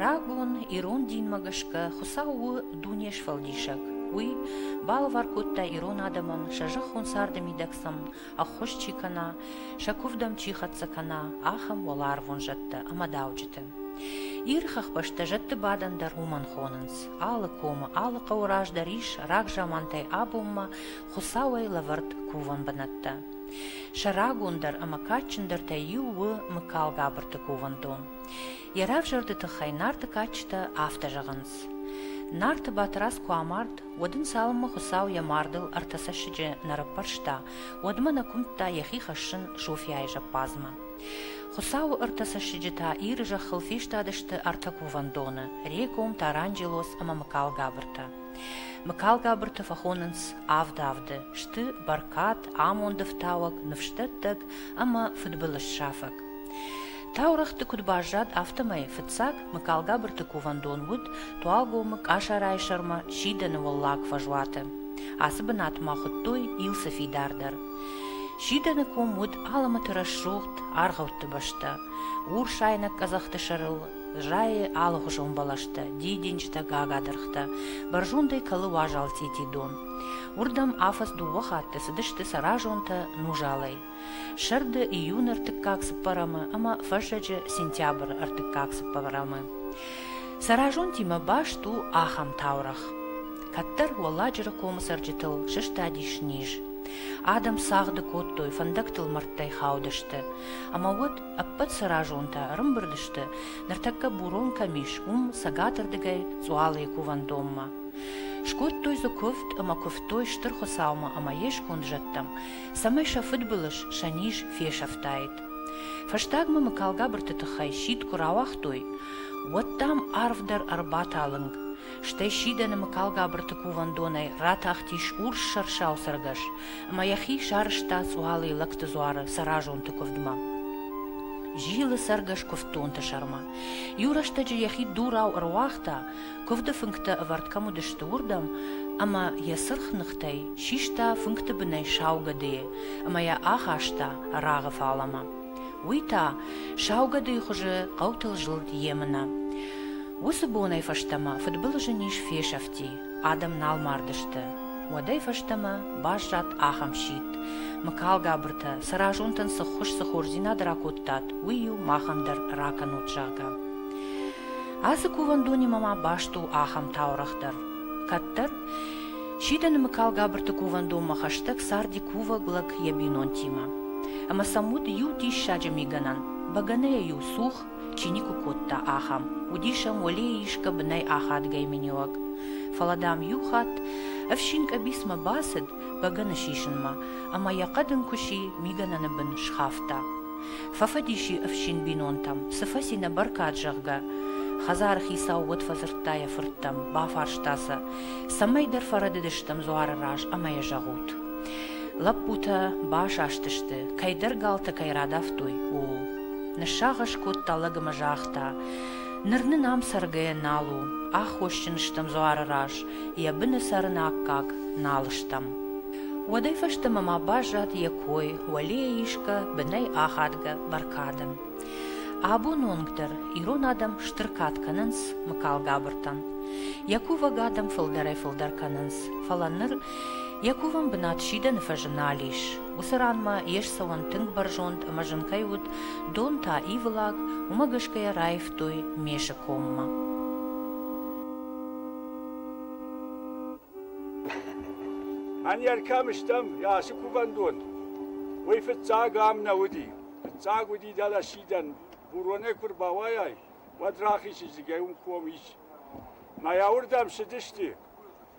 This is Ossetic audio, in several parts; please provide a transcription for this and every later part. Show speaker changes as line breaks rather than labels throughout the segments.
Рагон ирон динмӕ гӕсгӕ Хуыцау у Дунесфӕлдисӕг. Уый балӕвар кодта ирон адӕмӕн, сӕ зӕххон царды мидӕг сын ӕххуыс чи кӕна, сӕ куывдӕм чи хӕццӕ кӕна, ахӕм уӕларвон зӕдтӕ ӕмӕ дауджыты. Иры хӕхбӕстӕ зӕдты бадӕн дӕр уымӕн хонынц. Алы комы, алы хъӕуы раздӕр ис рагзамантӕй абонмӕ Хуыцауӕй лӕвӕрд кувӕн бынӕттӕ. Сӕ рагондӕр ӕмӕ кадджындӕртӕй иу у Мыкалгабырты кувӕндон. Йӕ равзӕрды тыххӕй Нарты кадджытӕ афтӕ зӕгъынц. Нарты Батырадз куы амард, уӕд ын цалынмӕ Хуыцау йӕ мардыл ӕртӕ цӕссыджы нӕ раппӕрста, уӕдмӕ нӕ куымдта йӕхи хӕссын Софьяйы зӕппадзмӕ. Хуыцауы ӕртӕ цӕссыджы та Иры зӕххыл фестадысты ӕртӕ кувӕндоны, Реком, Таранджелоз ӕмӕ Мыкалгабыртӕ. Мыкалгабырты фӕхонынц авд авды, сты бӕркад, амонды фтауӕг, ныфсдӕттӕг ӕмӕ фыдбылызсафӕг. Таурӕгъты куыд баззад, афтӕмӕй фыццаг Мыкалгабырты кувӕндон уыд Туалгомы Къасарайы сӕрмӕ сидӕны уӕллаг фӕзуаты. Ацы бынат ма хуыдтой Илсы фидар дӕр. Сидӕны ком уыд Алымыты рӕсугъд аргъӕутты бӕстӕ. Урс айнӕг къӕдзӕхты сӕрыл Зайы алыгъуызон бӕлӕстӕ, дидинджытӕ, гагадыргътӕ, бӕрзондӕй кӕлы уазал цъити дон. Уырдӕм афӕдз дыууӕ хатты цыдысты сӕразонтӕ нузалӕй. Сӕрды июны ӕртыккаг цыппӕрӕмы ӕмӕ фӕззӕджы сентябры ӕртыккаг цыппӕрӕмы. Сӕразонтимӕ баст у ахӕм таурӕгъ. Кӕддӕр Уӕлладжыры комы цӕрджытыл сыстадис низ. Адӕм цагъды кодтой, фӕндӕгтыл мӕрдтӕй хаудысты. Ӕмӕ уӕд Ӕппӕт сӕразонтӕ ӕрымбырд сты, ныртӕккӕ бурон кӕм ис, уым, цӕгатырдыгӕй, Цъуалыйы кувӕндонмӕ. Скодтой дзы куывд ӕмӕ куывтой Стыр Хуыцаумӕ ӕмӕ йе сконд зӕдтӕм, цӕмӕй сӕ фыдбылыз, сӕ низ фесӕфтаид. Фӕстагмӕ Мыкалгабырты тыххӕй сидт куы рауагътой, уӕд, дам, арв дӕр ӕрбаталынг. Стӕй сидӕны Мыкалгабырты кувӕндонӕй ратахтис урс сӕрсау цӕргӕс, ӕмӕ йӕхи сарызта цъуалыйы лӕгты дзуары сӕразонты куывдмӕ. Зилы цӕргӕс куывддонты сӕрмӕ. Иу рӕстӕджы йӕхи дурау ӕруагъта, куывды фынгтӕ ӕвӕрд кӕм уыдысты, уырдӕм, ӕмӕ йӕ сырх ныхтӕй систа фынгты бынӕй сау гӕдыйы ӕмӕ йӕ ахаста рагъы фалӕмӕ. Уый та сау гӕдыйы хуызы хъӕутыл зылд йемынӕ. Уыцы бонӕй фӕстӕмӕ фыдбылызы низ фесӕфти, Адӕм нал мардысты. Уӕдӕй фӕстӕмӕ баззад ахӕм сидт, Мыкалгабыртӕ, сӕ разонтӕн цы ххуыс, цы хорздзинад ракодтат, уый-иу махӕн дӕр ракӕнут, зӕгъгӕ. Ацы кувӕндонимӕ ма баст у ахӕм таурӕгъ дӕр. Кӕддӕр сидӕны Мыкалгабырты кувӕндонмӕ хӕстӕг царди кувӕг лӕг йӕ бинонтимӕ. Ӕмӕ сӕм уыд иу диссаджы мигӕнӕн, бӕгӕныйӕ-иу цух чи никуы кодта, ахӕм. Уыдис ӕм уӕлейы исгӕ бынӕй ахадгӕй миниуӕг. Фӕлӕ, дам, иу хатт ӕфсин къӕбицмӕ бацыд бӕгӕны сисынмӕ ӕмӕ йӕ хъӕдын куыси мигӕнӕны бын схафта. Фӕфӕдис и ӕфсин бинонтӕм, цы фӕци нӕ бӕркад, зӕгъгӕ. Хӕдзары хицау уӕд фӕдзырдта йӕ фырттӕм, бафарста сӕ, цӕмӕйдӕр фӕрӕдыдыстӕм дзуары раз ӕмӕ йӕ зӕгъут. Лӕппутӕ басастысты, кӕйдӕр галтӕ кӕй радавтой, ууыл. Ныссагъӕс кодта лӕг ӕмӕ загъта: Ныр нын ам цӕргӕйӕ нал у, аххосджын стӕм дзуары раз, йӕ быны цӕрын аккаг нал стӕм. Уӕдӕй фӕстӕмӕ ма баззад йӕ кой, уӕлейӕ исгӕ, бынӕй ахадгӕ бӕркадӕн. Абоны онг дӕр ирон адӕм стыр кад кӕнынц Мыкалгабыртӕн. Йӕ кувӕг адӕм фылдӕрӕй-фылдӕр кӕнынц, фӕлӕ ныр йӕ кувӕн бынат сидӕны фӕзы нал ис. Уыцы ранмӕ йе ссӕуӕн тынг бӕрзонд ӕмӕ зын кӕй уыд, дон та ивылӕг, уымӕ гӕсгӕ раивтой месы коммӕ.
Мӕнер кӕм стӕм, ацы кувӕндон? Уый фыццаг ам нӕ уыди. Фыццаг уыди дӕлӕ сидӕн. Буронӕй куы рбауайай, уӕд рахизы, зыгӕ уын ком ис. Мӕйӕ уырдӕм цыдысты.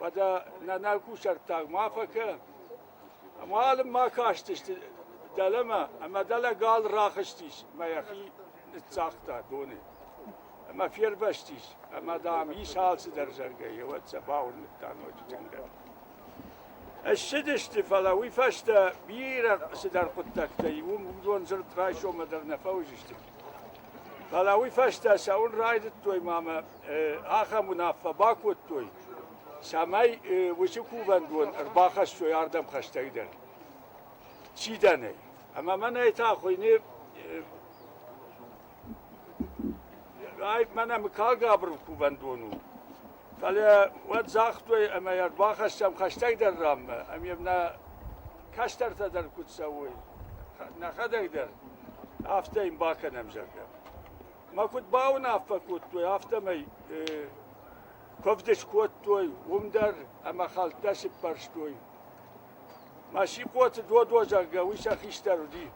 Уӕдӕ нӕ кусӕрттаг ма фӕкӕ. Ӕмӕ ма кастысты дӕлӕмӕ, ӕмӕ дӕлӕ гал рахызтис мӕ йӕхи ныццагъта доны. Ӕмӕ фервӕзтис, ӕмӕ, дам, ис алцыдӕр заргӕ, еуӕд сӕ бауырныдта ноджы тынгдӕр. Ссыдысты, фӕлӕ уый фӕстӕ бирӕ цыдӕр хъуыддӕгтӕй уым уыдон дзырд райсоммӕ дӕр нӕ фӕуыдзысты. Фӕлӕ уый фӕстӕ цӕуын райдыдтой ма мӕ ахӕм уынаффӕ бакодтой, цӕмӕй уыцы кувӕндон ӕрбахӕссой ардӕм хӕстӕг дӕр сидӕнӕй. Ӕмӕ мӕнӕй та хуыйны мӕнӕ мыкагабыр кувӕндон у. Фӕлӕ уӕд загътой, ӕмӕ йӕ ӕрбахӕссӕм хӕстӕгдӕр раммӕ, ӕм йӕм нӕ кӕстӕртӕ дӕр куыд цӕуой, нӕхӕдӕг дӕр, афтӕ йын бакӕнӕм, зӕгъгӕ. мӕ куыд бауынаффӕ кодтой, афтӕмӕй куывд скодтой уым дӕр ӕмӕ хӕлттӕ сыппӕрстой. Масикъоты Додо, зӕгъгӕ, уый сӕ хистӕр уыди.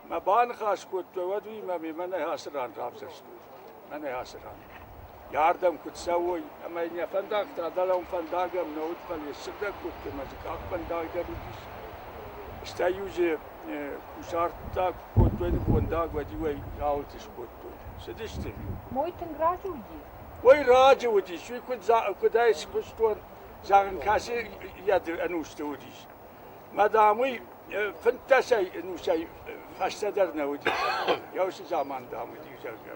Мӕ баныхас кодтой, уӕд уыимӕ мемӕ нӕ ацы ран равзӕрстой. Мӕнӕ ацы ран. Ардӕм куы цӕуой ӕмӕ йын йӕ фӕндӕгтӕ дӕлӕм фӕндагӕм нӕ уыд, фӕлӕ йӕ ссыгъдӕг кодтой мӕ дзы къахфӕндаг дӕр уыдис. Стӕй-иу дзы кусарттӕ куы кодтой нывондаг, уӕд-иу ӕй ралыты скодтой. Цыдысты-иу. Мой тынг
разы уыди? Уый раджы
уыдис, уый куыдӕй скуыстон, зӕгъын, кӕцы йӕ ӕнусты уыдис. Мадам, уый фынддӕсӕй ӕнусӕй фӕстӕдӕр нӕ уыди. Йӕ уыцы заман, дам, уыди, зӕгъгӕ.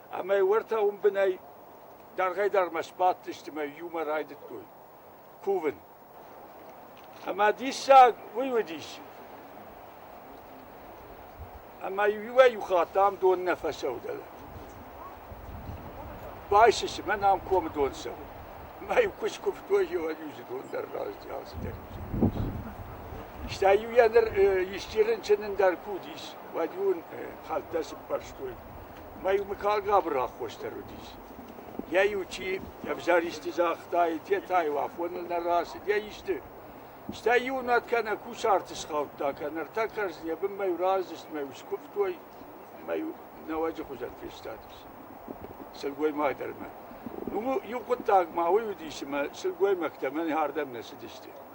Ӕмӕ уӕртӕ уым бынӕй дӕргъӕй-дӕргъмӕ сбадтысты мӕ иумӕ райдыдтой кувын. Ӕмӕ диссаг уый уыдис. Ӕмӕ иуӕй-иу хатт ам дон нӕ фӕцӕудӕлӕ. Байсы цымӕ ам комы дон цӕуы. Мӕ-иу куы скуывтой, иуӕй-иу дзы дон дӕр раздӕр алцыдӕр Стӕй-иу йӕ ныр исчи рынчынын дӕр куы уыдис, уӕд-иу ын хӕлттӕ цыппӕрстой. Мӕй мыггаг габыр аххосдӕр уыдис. Йӕ иу чи ӕвзӕр исты загътаид, йе та иу афоныл нӕ рацыд, йӕ исты. Стӕй иунӕг кӕнӕ кусарты схаудта, кӕнӕ ӕртӕ кӕрдзын йӕ бынмӕ-иу раздзыст мӕ-иу скуывтой, мӕ-иу нӕуӕджы хуызӕн фестадис сылгоймагдӕрмӕ. Ну, иу хъуыддаг ма уый уыдис, ӕмӕ сылгоймӕгтӕ мӕн ардӕм нӕ цыдысты.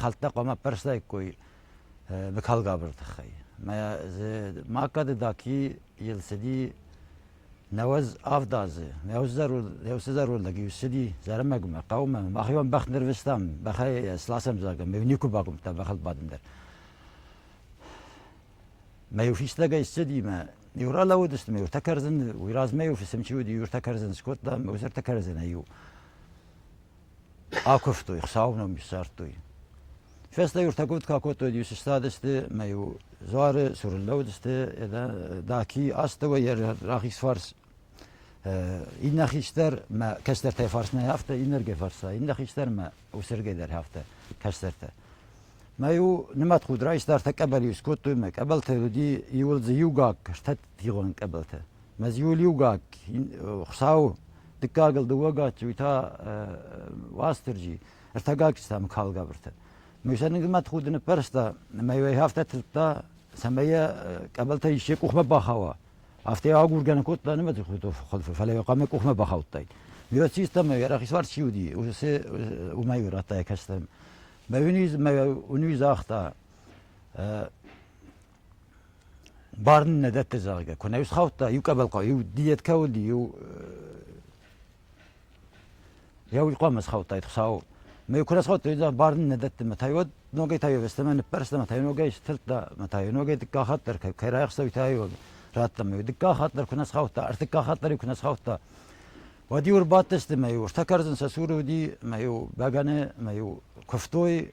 хӕлттӕ хъуамӕ ӕппӕрстаиккой быкалгабыры тыххӕй. Мӕ хъӕды Даки йыл цыди нӕуӕдз авд азы. Нӕуыцы зӕронд лӕг иу ссыди Зӕрӕмӕгмӕ, хъӕумӕ. Махиуан бӕх нырвыстам, бӕхӕй сласӕм, зӕгъгӕ, мӕ никуы бакуымдта бӕхыл бадын дӕр. Мӕ иу фистӕгӕй ссыди мӕ иу ралӕууыдысты мӕ иутӕ кӕрдзын, уый размӕ иу фысым чи уыди, иу ӕртӕ кӕрдзын скодта, мӕ уыцы ӕртӕ кӕрдзынӕй иу. Акуывтой, Хуыцауы ном ссардтой. Фӕстӕ-иутӕгуыд куы акодтой, иу сыстадысты мӕ-иу дзуары цур лӕууыдысты, Даки, астӕуӕй йӕ рахиз фарс, иннӕ хистӕр мӕ кӕстӕртӕй фарсмӕ афтӕ, иннӕргӕй фарсмӕ, иннӕ хистӕр мӕ усӕргӕй дӕр афтӕ кӕстӕртӕ. Мӕ-иу нымӕтхуд райста, ӕртӕ къӕбӕл-иу скодтой, мӕ къӕбӕлтӕ уыди иуыл дзы иугаг стӕтгъон къӕбӕлтӕ. Мӕзиуыл иугаг Хуыцауы дыккагыл дыууӕгад уый та Уастырджи, ӕртӕгаг сты ам калгӕбыртӕ. Мыйсӕныг мӕтхуды ныппӕрста ӕмӕ йӕ афтӕ тырдта, цӕмӕй йӕ къӕбӕлтӕ исчи къухмӕ бахауа. Афтӕ йӕ агургӕ нӕ кодта нымӕты худы, фӕлӕ йӕ хъуамӕ къухмӕ бахаудтаид. Миот систам, ӕй рахисварс чи уыди, уыцы уымӕй радта йӕ кӕстӕм. Мӕ уын загъта, Барын нӕ дӕтты, зӕгъгӕ, куы нӕ исхаудта, иу къӕбӕлхъау, иу диеткӕ уыди, иу... Йӕ уый хъуамӕ схаудтаид Хуыцау. Мӕ куы расхаудтой, барын нӕ дӕтты, мӕ та уӕд ногӕй та йе'вӕстӕмӕ ныппӕрста, мӕ та ногӕй сдзырдта, мӕ та ногӕй дыккаг хатт дӕр кӕй райхъуыста, уый та радта мӕ, дыккаг хатт дӕр куы нӕ схаудта, ӕртыккаг хатт дӕр куы нӕ схаудта. Уӕд-иу ӕрбадтысты мӕ-иу, ӕртӕ кӕрдзын сӕ цуры уыди, мӕ-иу бӕгӕны, мӕ-иу куывтой,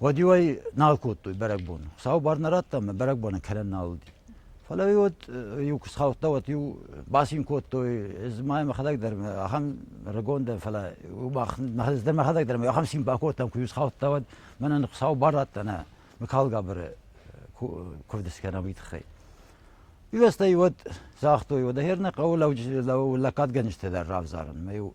Уӕд-иу ӕй нал кодтой бӕрӕгбон. Сау бар нӕ радта ӕмӕ бӕрӕгбоны кӕрӕн нал уыди. Фӕлӕ-иу уӕд иу куы схаудта, уӕд-иу бацин кодтой, ӕз ма мӕхӕдӕг дӕр ахӕм рагон дӕн, фӕлӕ мӕ дӕр мӕхӕдӕг дӕр ахӕм цин бакодтам, куы-иу схаудта, уӕд мӕнӕн сау бар радта нӕ Мыкалгабыры куывды скӕнӕм, уый тыххӕй. Ирӕстӕ-иу уӕд загътой, уӕдӕ хер нӕ хъӕуы лӕггадгӕнджытӕ дӕр равзарын, ӕмӕ-иу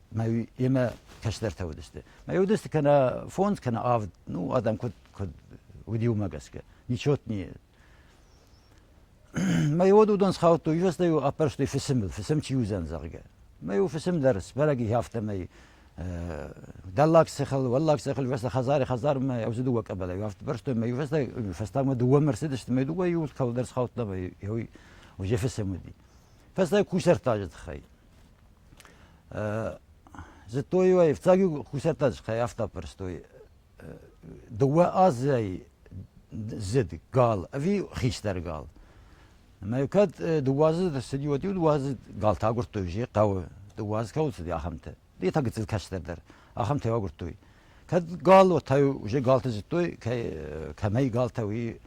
мӕ йемӕ кӕстӕртӕ уыдысты. Мӕ уыдысты кӕнӕ фондз, кӕнӕ авд. Ну, адӕм куыд, куыд уыди уымӕ гӕсгӕ. Ничего не Мӕ уыдон схаудтой, ивӕстӕ-иу аппӕрстой фысымыл, фысым чи уыдзӕн, зӕгъгӕ. Мӕ-иу фысым дӕр сбӕрӕг и афтӕмӕй Дӕллаг Сахал, Уӕллаг Сахал, ивӕстӕ хӕдзари хӕдзармӕ ӕвзы дыууӕ къӕбӕлӕй афтӕ бӕрстой мӕ ивӕстӕ фӕстагмӕ дыууӕмӕ рцыдысты мӕ дыууӕ иу кӕуылдӕр схаудта мӕ йой уже фысым уыди. Фӕстаг кусӕртаджы тыххӕй. Зыдтой-иу ӕй, ӕфцӕг-иу кусӕртӕ скӕййӕфта пӕрстой. Дыууӕ азӕй зыд гал ӕви хистӕр гал. Ӕмӕ кӕд дыууӕ азы ӕрцыди, уӕд-иу дыууӕ азы галты агуырдтой, узе хъӕуы, дыууӕ азы кӕуыл цыди, ахӕмтӕ. Йе та гыццыл кӕстӕр дӕр, ахӕмтӕ агуырдтой. Кӕд гал уотӕ уже галти зудтой, кӕмӕй галтӕ уи,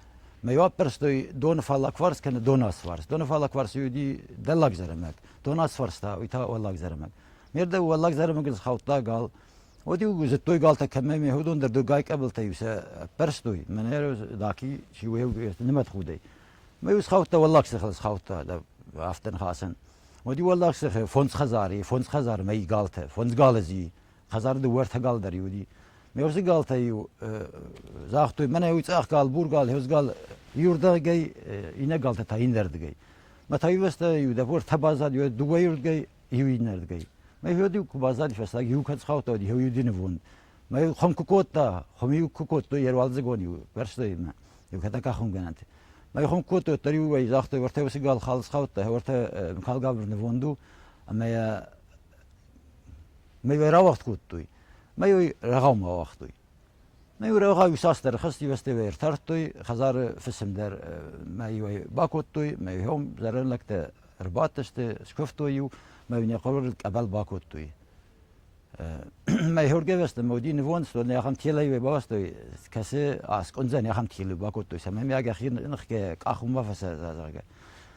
мӕ ӕппӕрстой доны фаллагфарс кӕнӕ донасфарс. Донифаллагфарс уди дӕллаг зӕрӕмӕг, донасфарс та уи та уӕллаг зӕрӕмӕг. Ме рдӕ уӕллаг зӕрӕмӕгӕн схаудта гал. Уӕд-иу зудтой галтӕ кӕмӕй, мехдон дӕр доггай къӕбилтӕ-иу сӕ ӕппӕрстой. Мӕнӕ даки чи уеуг нимӕтхудӕй. Мӕ-иу схаудта уӕллаг сехӕл схаудта да афтӕ нхасӕн. Уӕд-иу уӕллаг сехе фондз хӕдзари, фондз хӕдзар мӕй галтӕ, фондз гал зи хӕдзар дыууӕртӕ гал дӕр уыди. Ме урсы галтӕ-иу загътой, мӕнӕ уый цъӕх гал, бур гал, хевз гал, иуырдӕгӕй, иннӕ галтӕ та иннӕрдыгӕй. Мӕ тайвӕстӕ иу дӕр ӕртӕ баззад, иу дыууӕйырдыгӕй, иу иннӕрдыгӕй. Мӕ фед-иу куы баззади фӕстаг, иу кӕд схаудта, уыд иу динвонд. Мӕ хом куы кодта, хом-иу куы кодтой йӕ руалдзыгон-иу бӕрстой мӕ, иу кӕд кахунгӕнӕнты. Мӕ хом куы кодтой, уӕддӕр-иу ӕй загътой, ӕртӕ уыцы гал хал схаудта, ӕртӕ Михал Габыр нывонд у, ӕмӕ йӕ Мӕй рауагъд кодтой, мӕй уый рӕгъаумӕ ауагътой. Мӕй уый рӕгъау иуцасдӕр хӕстивӕстӕй ӕртардтой, хӕдзары фысым дӕр мӕй бакодтой, мӕйхъом зӕрин лӕгтӕ ӕрбадтысты, скуывтой-иу, мӕй нӕ хъуыры къӕбӕл бакодтой. Мӕйхургӕвӕсты мауди нивон стон ахӕм телӕй бавастой, кӕсы аскъундзӕн ахӕм телы бакодтой, цӕмӕй мӕ гӕхи ныхгӕ къахума фӕсӕ, зӕгъгӕ.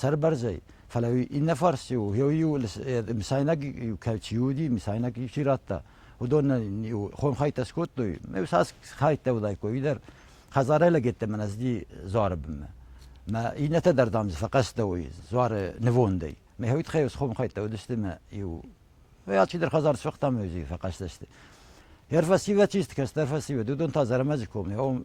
сӕрбӕрзӕй, фӕлӕ иннӕ фарс-иу иу-иу мысайнаг чи уыди, мысайнаг чи радта, уыдон хомхӕйтӕ скодтой. Ме сас хӕйттӕ уыдаиккой, уый дӕр хӕдзарӕй лӕгеттӕ мӕн ӕздзи дзуары бынмӕ. Мӕ иннӕтӕ дӕр, дам, дзы фӕхъӕстӕуой дзуары нывондӕй. Мӕ хӕйтхӕйос хомхӕйттӕ уыдысты мӕ иу. Алчидӕр хӕдзар сфыхта мӕ фӕхъӕстӕ сты. Йӕ фӕсивӕд чи сты, кӕстӕр фӕсивӕд, уыдон та Зӕрӕмӕджы коммӕ,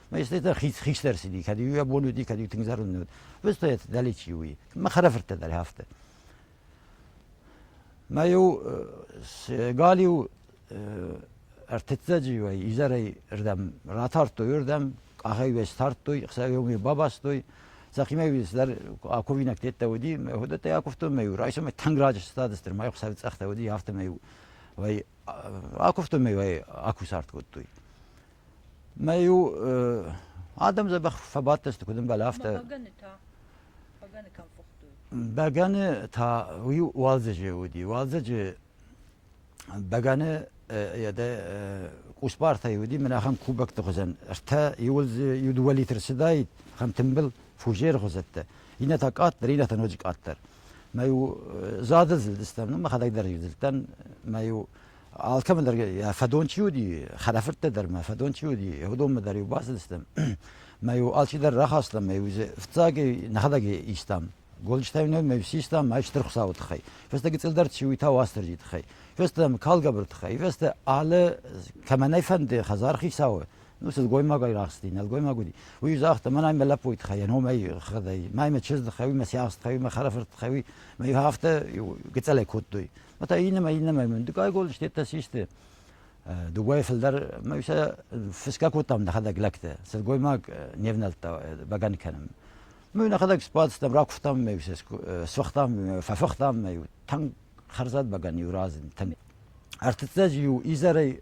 Мӕстӕтӕ хистӕр цыди, кӕд уый бон уыди, кӕд тынг зӕронд уыд. Выстает далече уи. Мӕ хӕрӕфырттӕ дӕр хафты. Мӕ иу се галиу ӕртыццӕджы уай изӕрӕй рдӕм ратардтой рдӕм, къахӕй уӕ стардтой, хсӕвиомӕ бабастой. Сахимӕ цыдӕр аковинаг теттә уыди, мӕ хуыдӕттӕй акуывтон, мӕ иу райсомӕй тынг раджы стады стыр, мӕ хсӕв цъӕхтӕ уыди, афтӕ мӕ иу вай акуывтон, мӕ вай акусарт кодтой. Мӕ-иу адӕм дзӕбӕх фӕбадтысты, куыд ӕмбӕлы, афтӕ. Бӕгӕны та? Бӕгӕны кӕм
фыхтой? Бӕгӕны
та уый уалдзӕджы уыди. Уалдзӕджы бӕгӕны къусбартӕй уыди, мӕнӕ ахӕм кубокты хуызӕн. Ӕртӕ иуыл дзы иу дыууӕ литр цыдаид, ахӕм тымбыл фужеры хуызӕттӕ. Иннӕ та къаддӕр, иннӕ та ноджы къаддӕр. Мӕ-иу зады зылдыстӕм, ну мӕхӕдӕг дӕр иу зылдтӕн. Мӕ-иу Алкӕмӕн дӕр йӕ фӕдон чи уыди, хӕрӕфырттӕ дӕр мӕ фӕдон чи уыди, уыдонмӕ дӕр-иу бацыдыстӕм. Мӕ-иу алчидӕр рахастам, мӕ-иу дзы фыццагӕй нӕхӕдӕг истам. Гонджытӕй нӕ мӕ систам ӕй стыр Хуыцауы тыххӕй. Фӕстӕ гыцъылдӕр чи уый та Уастырджийы тыххӕй. Фӕстӕ мӕ калгӕбыр тыххӕй. Фӕстӕ алы кӕмӕн ӕй фӕнды хӕдзар хицауы, ну сылгоймагӕй рахсти, нӕлгоймаг уыди, уый загъта, мӕнӕй мӕ лӕппуйы тыххӕй, йӕ номӕй хӕдӕй, мӕй мӕ чызджы тыххӕй, уый мӕ сиахсы тыххӕй, уый мӕ хӕрӕфырты тыххӕй, уый афтӕ гыцӕлӕй кодтой. Ата иннӕмӕ иннӕмӕ мын дыккагон стеттӕ систы. Дыгой фылдӕр мӕ сӕ фысгӕ кодтам нӕхӕдӕг лӕгтӕ. Сылгоймаг не внӕлдта бӕгӕн кӕнын. Мӕ нӕхӕдӕг сбадстам, ракуывтам мӕ сфыхтам, фӕфыхтам мӕ тӕнг хӕрзад бӕгӕн иу разынд. Ӕртыццӕджы иу изӕрӕй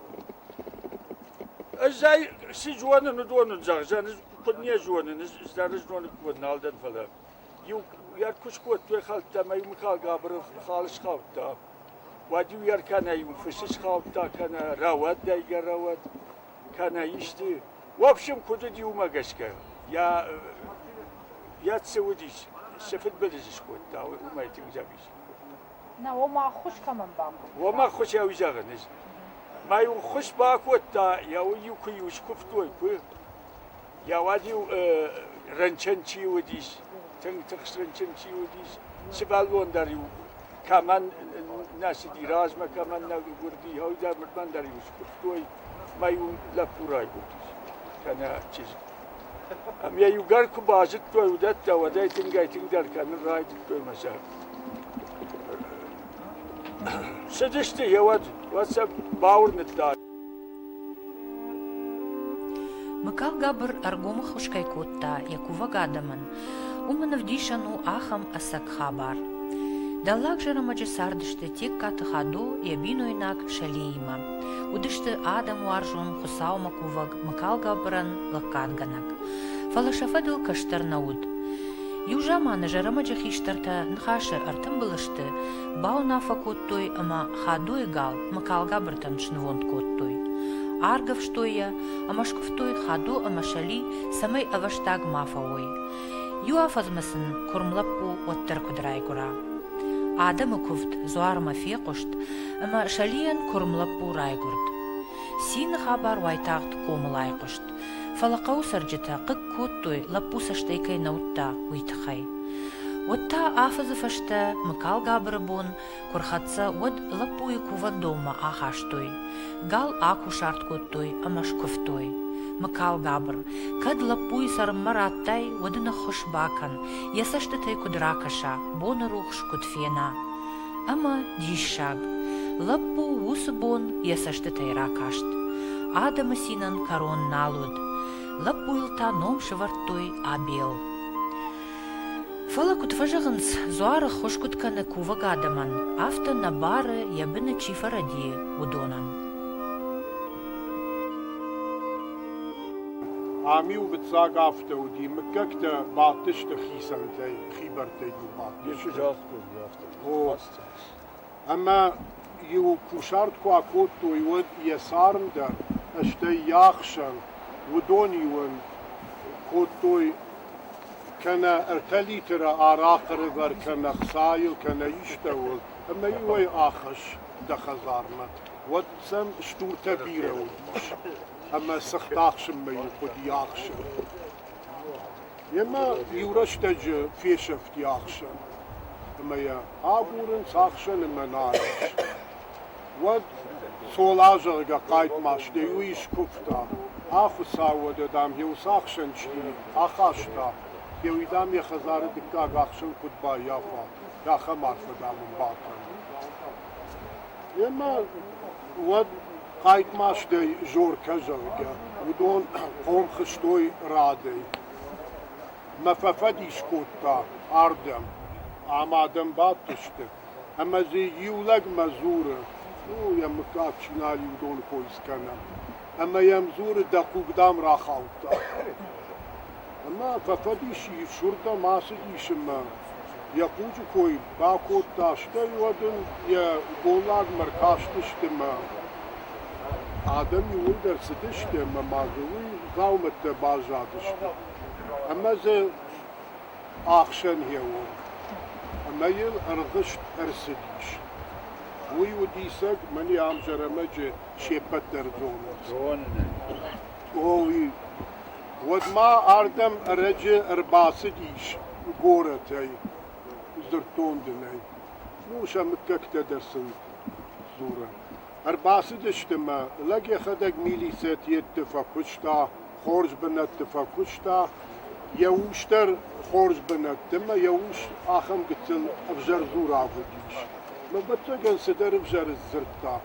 Ӕз
ӕй си зонын уыдоны зӕгъзӕн, ӕз куыд не зонын, ӕз дӕр зонын куыд нал дӕн, фӕлӕ иу йӕ куы скодтой хӕлттӕ ӕмӕ иу Михал Габыры хал схаудта. Уӕд-иу йӕ кӕнӕ иу фысы схаудта, кӕнӕ рауад дайгӕ рауад, кӕнӕ исты. В общем, куыд уыд иумӕ гӕсгӕ, йӕ йӕ цы уыдис, цы фыдбылыз скодта, уымӕй тынг зӕгъис.
Нӕ, уым ӕххуыс кӕмӕн бахъуыд? Уым ӕххуысӕй
зӕгъын ис. Мӕ иу ӕххуыс бакодта, йӕ иу куы-иу скуывтой, куы. Йӕ уӕд-иу рынчын чи уыдис, тынг тыхст рынчын чи уыдис, сывӕллон дӕр-иу кӕмӕн нӕ цыди, размӕ кӕмӕн нӕ гуырди, ау, дӕр мыртмӕн дӕр-иу скуывтой, мӕ иу лӕппу райгуырдис, кӕнӕ чызг. Ам йӕ иугӕр куы базыдтой уыдӕттӕ, уӕд ӕй тынгӕй-тынгдӕр кӕнын райдыдтой мӕ сӕр. Цыдысты йӕ уӕд, уӕд сӕ бауырныдта.
Мыкалгабыр ӕргомы хус кӕй кодта йӕ кувӕг адӕмӕн, Уымӕн ӕвдисӕн у ахӕм ӕцӕг хабар. Дӕллаг Зӕрӕмӕджы цардысты Тегкаты Хадо йӕ бинойнаг Сӕлеимӕ. Уыдысты адӕм уарзон, Хуыцаумӕ кувӕг, мыкалгӕбырӕн лӕггадгӕнӕг. Фӕлӕ сӕ фӕдыл кӕстӕр нӕ уыд. Иу заманы Зӕрӕмӕджы хистӕртӕ ныхасы ӕртымбыл сты, бауынаффӕ кодтой ӕмӕ Хадойы гал мыкалгӕбыртӕн снывонд кодтой. Аргӕвстой йӕ ӕмӕ скуывтой Хадо ӕмӕ Сӕли цӕмӕй ӕвӕстаг ма фӕуой. Иу афӕдзмӕ сын куырм лӕппу уӕддӕр куыд райгуыра. Адӕмы куывд дзуармӕ фехъуыст, ӕмӕ Сӕлийӕн куырм лӕппу райгуырд. Цины хабар уайтагъд комыл айхъуыст, фӕлӕ хъӕуы цӕрджытӕ хъыг кодтой, лӕппу цӕстӕй кӕй нӕ уыдта, уый тыххӕй. Уӕд та афӕдзы фӕстӕ Мыкалгабыры бон Куы рхӕццӕ, уӕд лӕппуйы кувӕндонмӕ ахастой. Гал акусарт кодтой ӕмӕ скуывтой. Мыкалгабыр, кӕд лӕппуйы цӕрынмӕ радтай, уӕд ныххуыс бакӕн, йӕ цӕстытӕй куыд ракӕса, бонырухс куыд фена. Ӕмӕ диссаг! Лӕппу уыцы бон йӕ цӕстытӕй ракаст. Адӕмы цинӕн кӕрон нал уыд. Лӕппуйыл та ном сывӕрдтой Абел. Фӕлӕ куыд фӕзӕгъынц, дзуары ххуыс куыд кӕны кувӕг адӕмӕн, афтӕ нӕ бары, йӕ быны чи фӕрӕдийы, уыдонӕн.
Ам-иу гыццаг афтӕ уыди, мыггӕгтӕ бадтысты хицӕнтӕй, хибӕрттӕй-иу бадт. Исчи загътой афтӕ. О. ӕмӕ-иу кусарт куы акодтой, уӕд йӕ царм дӕр, стӕй йӕ ӕхсӕн, уыдон-иу ын кодтой кӕнӕ ӕртӕ литры арахъ ӕрывӕр кӕнӕ хцайыл, кӕнӕ истӕуыл, ӕмӕ-иу ӕй ахӕсс дӕ хӕдзармӕ. Уӕд сӕм стуртӕ бирӕ уыдис, ӕмӕ сыхт ахсынмӕ-иу хъуыди ӕхсын. Йемӕ иу рӕстӕджы фесӕфти ӕхсӕн ӕмӕ йӕ агурынц ӕхсӕны мӕнӕйы ӕхсӕн. Уӕд Цола, зӕгъгӕ, хъайтмазтӕй иу искуывта, Ӕ хуыцау уӕдӕ, дам, йӕ уыцы ӕхсӕн чи ахаста, гъеуый, дам, йӕ хӕдзары дыккаг ӕхсӕн куыд баййафа, ахӕм арфӕ, дам, ын бакӕн. Йемӕ уӕд Хъайтмазтӕй Жоркӕ, зӕгъгӕ, уыдон хъом хызтой радӕй. Мӕ фӕфӕдис кодта ардӕм, ӕмӕ адӕм бадтысты, ӕмӕ дзы иу лӕгмӕ дзуры: «Фу, йӕ мыггаг чи нал и, уыдоны кой скӕнӕм». Ӕмӕ йӕм дзуры: «Дӕ хъуг дӕм рахаудта». ӕмӕ фӕфӕдисийы сырдӕм ацыдис ӕмӕ йӕ хъуджы кой бакодта, стӕй уӕд ын йӕ голлагмӕ ркастысты мӕ адӕм иууылдӕр цыдысты ӕмӕ ма дзы уый дзаумӕттӕ баззадысты ӕмӕ дзы ӕхсӕн гъеуон ӕмӕ йыл ӕргъызт ӕрцыдис. Уый у диссаг, мӕн йӕ ӕмзӕрӕмӕджы се ппӕт дӕр зонынц. Зонын ӕй. Оли. Уӕдмӕ ардӕм ӕрӕджы ӕрбацыдис горӕтӕй, дзырдтон дын ӕй. Ну, сӕ мыггӕгтӕ дӕр сын дзурын. Ӕрбацыдысты мӕ, лӕг йӕхӕдӕг милицӕ тъетты фӕкуыста, хорз бынӕтты фӕкуыста. Йӕ ус дӕр хорз бынӕтты, мӕ йӕ ус ахӕм гыццыл ӕвзӕр дзураг уыдис. Мӕ бӕцӕгӕн цыдӕр ӕвзӕр дзырдта.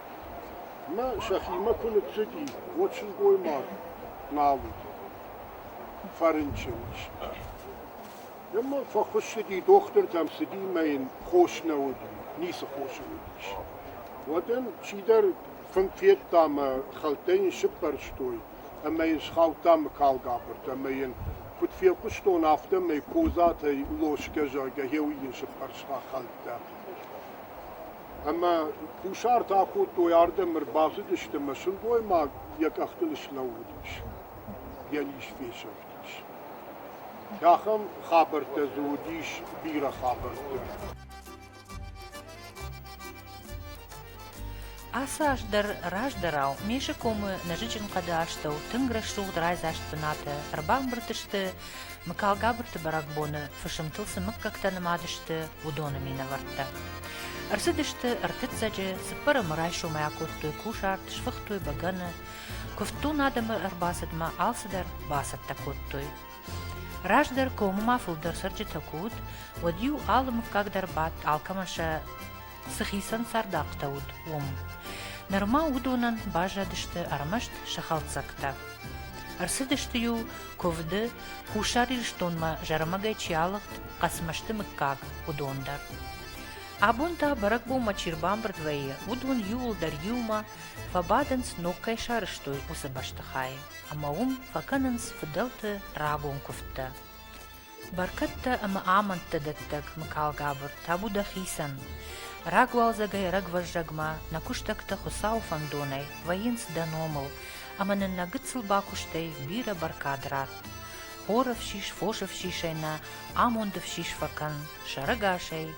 Ӕмӕ сӕхимӕ куы ныццыди, уӕд сылгоймаг нал уыд, фӕрынчын ис. Ӕмӕ фӕхуыссыди дохтыртӕм, цыди мӕ йын хос нӕ уыди, ницы хосы уыдис. Уӕд ын чидӕр фынг федта мӕ хӕлттӕ йын сыппӕрстой ӕмӕ йын схаудта мыкалгабыртӕ ӕмӕ йын куыд фехъуыстон, афтӕмӕй Козатӕй лосгӕ, зӕгъгӕ, гъеуый йын сыппӕрста хӕлттӕ. ӕмӕ кусарт акодтой ардӕм, ӕрбацыдысты ӕмӕ сылгоймаг йӕ къӕхтыл слӕууыдис, йӕ ис фесӕфтис. Ахӕм хабӕрттӕ дзы уыдис бирӕ хабӕрттӕ.
Ацы аз дӕр раздӕрау Мейзы комы нӕзыджын хъӕды астӕу тынг рӕсугъд райдзаст бынаты ӕрбамбырд сты Мыкалгабырты бӕрӕгбоны фысымтыл цы мыггӕгтӕ нымад сты, уыдоны минӕвӕрттӕ. Ӕрцыдысты ӕртыццӕджы, цыппӕрӕмы райсомӕй акодтой кусарт, сфыхтой бӕгӕны. Куывддун адӕмы ӕрбацыдмӕ алцыдӕр бацӕттӕ кодтой. Раздӕр комы ма фылдӕр цӕрджытӕ куы уыд, уӕд-иу алы мыггаг дӕр бадт алкӕмӕн сӕ цыхицӕн цард афтӕ уыд, уым. Нырма уыдонӕн баззадысты ӕрмӕст сӕ хӕлддзӕгтӕ. Ӕрцыдысты-иу куывды, Хуссар Ирыстонмӕ зӕрымагӕй чи алыгъд, Хъӕцмӕзты мыггаг, уыдон дӕр. Абон та бӕрӕгбонмӕ чи рбамбырд вӕййы, уыдон иуылдӕр иумӕ фӕбадынц, ног кӕй сарызтой, уыцы бӕстыхайы, ӕмӕ уым фӕкӕнынц фыдӕлты рагон куывдтӕ. Бӕркӕдтӕ ӕмӕ амӕндтӕ дӕттӕг мыкалгабыр, табу дӕхицӕн! Рагуалдзӕгӕй рагвӕззӕгмӕ нӕ куыстӕгтӕ Хуыцауы фӕндонӕй вӕййынц дӕ номыл, ӕмӕ нын нӕ гыццыл бакуыстӕй бирӕ бӕркад ратт. Хоры фсис, фосы фсисӕй нӕ амонды фсис фӕкӕн, сӕрӕгасӕй,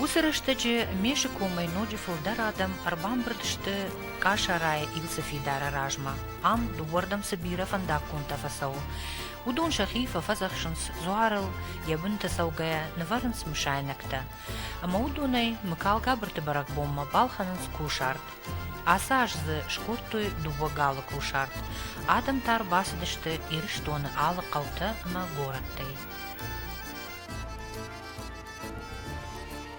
Уыцы рӕстӕджы Мешы комӕй ноджы фылдӕр адӕм ӕрбамбырд сты Къасарайы Илцы фидары размӕ. Ам дыууӕрдӕм цы бирӕ фӕндаггонтӕ фӕцӕуы. Уыдон сӕхи фӕфӕдзӕхсынц дзуарыл, йӕ бынты цӕугӕйӕ нывӕрынц мысайнӕгтӕ. Ӕмӕ уыдонӕй Мыкалгабырты бӕрӕгбонмӕ балхӕнынц кусарт. Ацы аз дзы скодтой дыууӕ галы кусарт. Адӕм та ӕрбацыдысты Ирыстоны алы хъӕутӕ ӕмӕ горӕттӕй.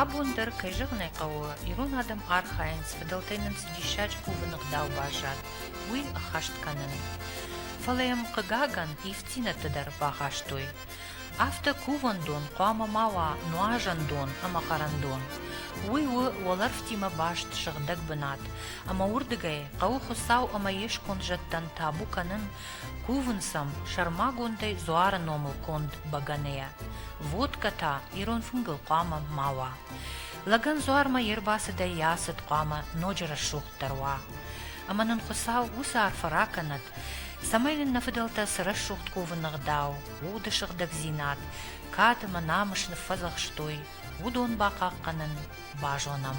Абон дӕр, кӕй зӕгъын ӕй хъӕуы, ирон адӕм архайынц, фыдӕлтӕй нын цы диссаджы кувыны гъдау баззад, уый ӕххӕст кӕнын. Фӕлӕ йӕм, хъыгагӕн, ивддзинӕдтӕ дӕр багъӕстой. Афтӕ кувӕндон хъуамӕ ма уа нуазӕн дон ӕмӕ хъарӕндон. Уый у уӕлӕрвтимӕ баст сыгъдӕг бынат, ӕмӕ уырдыгӕй хъӕуы Хуыцау ӕмӕ йе сконд зӕдтӕн табу кӕнын Кувын сӕм сӕрмагондӕй дзуары номыл конд бӕгӕныйӕ. Водкӕ та ирон фынгыл хъуамӕ ма уа. Лӕгӕн дзуармӕ йе рбацыдӕй йӕ ацыд хъуамӕ ноджы рӕсугъддӕр уа. Ӕмӕ нын Хуыцау уыцы арфӕ ракӕнӕд, цӕмӕй нын нӕ фыдӕлтӕ цы рӕсугъд кувыны гъдау, уды сыгъдӕгдзинад, кад ӕмӕ намыс ныффӕдзӕхстой, уыдон бахъахъхъӕнын базонӕм.